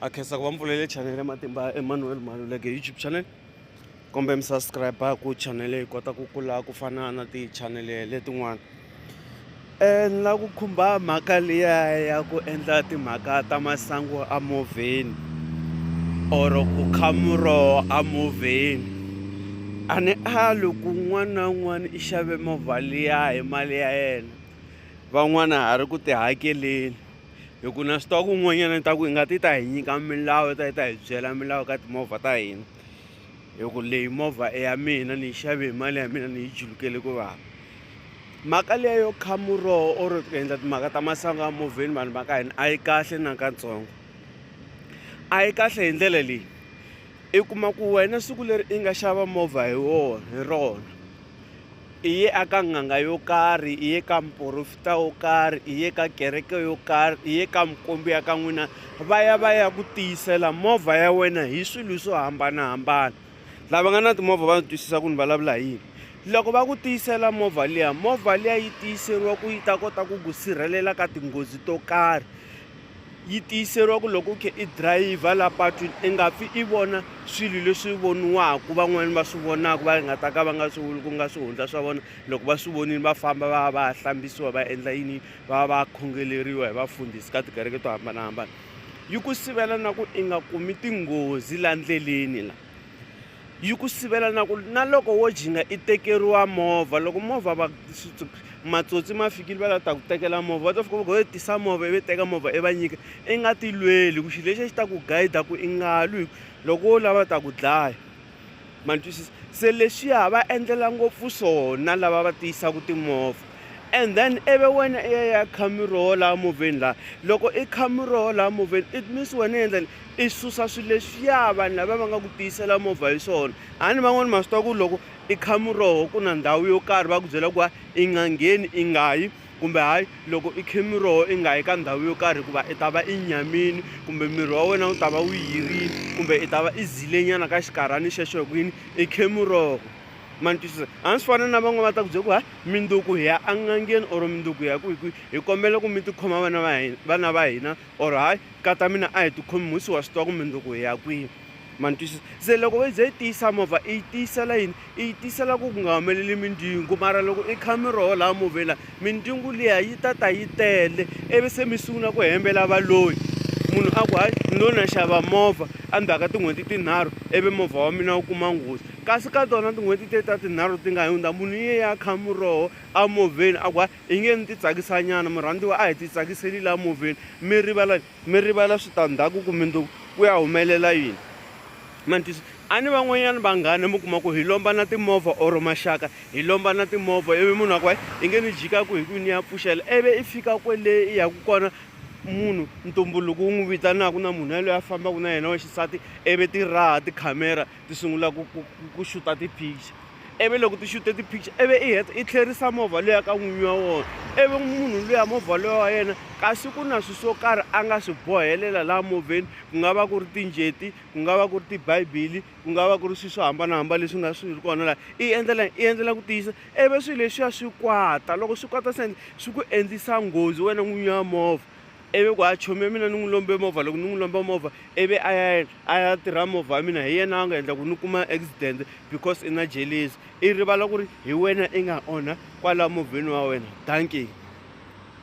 a khensa ku va mpfulele chanel ya matimba ya emmanuel maluleke youtube channel kumbe mi subscribe ku chanel yi kota ku kula ku fana na ti-channel letin'wana um ni lava ku khumba mhaka liya ya ku endla timhaka ta masangu a movheni or ku kha muroho a movheni a ni ali ku un'wana na un'wana i xave movha liya hi mali ya yena van'wana ha ri ku tihakeleni hi ku na swi tiva ku un'wanyana ni ta ku hi nga ti ta hi nyika milawu yi ta yi ta hi byela milawu ka timovha ta hina hi ku leyi movha i ya mina ni yi xave hi mali ya mina ni yi julukele ku vava mhaka leya yo kha muroho or ku endla timhaka ta masangu ya movheni vanhu va ka hina a yi kahle na katsongo a yi kahle hi ndlela leyi i kuma ku wena siku leri i nga xava movha hi wona hi rona I ye a ka n'anga yo karhi, i ye ka muporofita wo karhi, i ye ka kereke yo karhi, i ye ka mukombi ya ka n'wina, va ya va ya ku tiyisela movha ya wena hi swilo swo hambanahambana. Lava nga na timovha va twisisa ku ni vulavula hi yini. Loko va ku tiyisela movha liya, movha liya yi tiyiseriwa ku yi ta kota ku ku sirhelela ka tinghozi to karhi. Yi tiyiseriwa ku loko u khe i dirayivha la patwini i nga pfi i vona swilo leswi voniwaka van'wani va swi vonaka va nga ta ka va nga swi ku nga swihundla swa vona loko va swi vonile va famba va va hlambisiwa va endla yini va va khongeleriwa hi vafundhisi ka tikereke to hambanahambana yi ku sivela na ku i nga kumi tinghozi la ndleleni la yi ku sivela na ku na loko wo jinga i tekeriwa movha loko movha va matsotsi ma fikile va lava ta ku tekela movha va ta fika va ku yo tisa movha ivi teka movha i va nyika i nga ti lweli ku xilo lexi a xi ta ku guide ku i nga lwi hi ku loko wo lava ta ku dlaya ma ni twisisa se leswiya va endlela ngopfu swona lava va tiyisaka timovha. And then ivi wena i ya ya kha miroho laha movheni laha loko i kha miroho laha movheni it means wena i endla ni i susa swilo leswiya vanhu lava va nga ku tiyisela movha hi swona a ni van'wani ma swi tiva ku loko i kha miroho ku na ndhawu yo karhi va ku byela ku va i nga ngheni i nga yi kumbe hayi loko i khe miroho i nga yi ka ndhawu yo karhi hikuva i ta va i nyamini kumbe miri wa wena wu ta va wu yirile kumbe i ta va i zilenyana ka xinkarhana xexo hi ku yini i khe miroho ma ni twisisa a ni swi fana na van'wana va ta ku byela ku ha minduku hi ya an'angeni or minduku hi ya ku hi kwihi hi kombela ku mi tikhoma vana va hina vana va hina or hayi kata mina a hi tikhomi musi wa swi tiva ku minduku hi ya kwihi ma ni twisisa se loko yi ze yi tiyisa movha i yi tiyisela yini i yi tiyisela ku ku nga humeleli mindzingu mara loko i kha miroho laha movheni laha Mindyangu liya yi ta ta yi tele ivi se mi sungula ku hembela valoyi munhu a ku hayi ni lo na xava movha endzhaku ka tin'hweti tinharhu ivi movha wa mina wu kuma nghozi kasi ka tona tin'hweti te ta tinharhu ti nga hundza munhu yi ye ya kha muroho a movheni a ku hayi hi nge ni titsakisanyana murhandziwa a hi titsakiseli laha movheni mi rivala Mi rivala switandhaku ku mundzuku ku ya humelela yini. Ma ni twisa? A ni van'wanyana vanghana mi kuma ku hi lomba na timovha or maxaka hi lomba na timovha ivi munhu a ku hayi i nge ni jikaku hi ku ni ya pfuxela ivi i fika kwele i yaku kona munhu ntumbuluko wu n'wi vitanaku na munhu yaloye a fambaku na yena wa xisati ivi ti raha tikhamera ti sungula ku ku ku xuta ti-picture ivi loko ti xute ti-picture ivi i heta i tlherisa movha luya ka n'winyi wa wona ivi munhu luya movha loya wa yena kasi ku na swilo swo karhi a nga swi bohelela laha movheni ku nga va ku ri tinjeti ku nga va ku ri tibibele ku nga va ku ri swilo swo hambanahambana leswi nga swi ri kona laha i endlela i endlela ku tiyisa ivi swilo leswiya swi kwata loko swi kwata se swi ku endlisa nghozi wena n'winyi wa movha. Ivi ku, A chomi ya mina ni n'wi lombe movha loko ni n'wi lomba movha ivi a ya a ya tirha movha wa mina hi yena a nga endla ku ni kuma accident because i na jelezi i rivala ku ri hi wena i nga onha kwala movheni wa wena dankie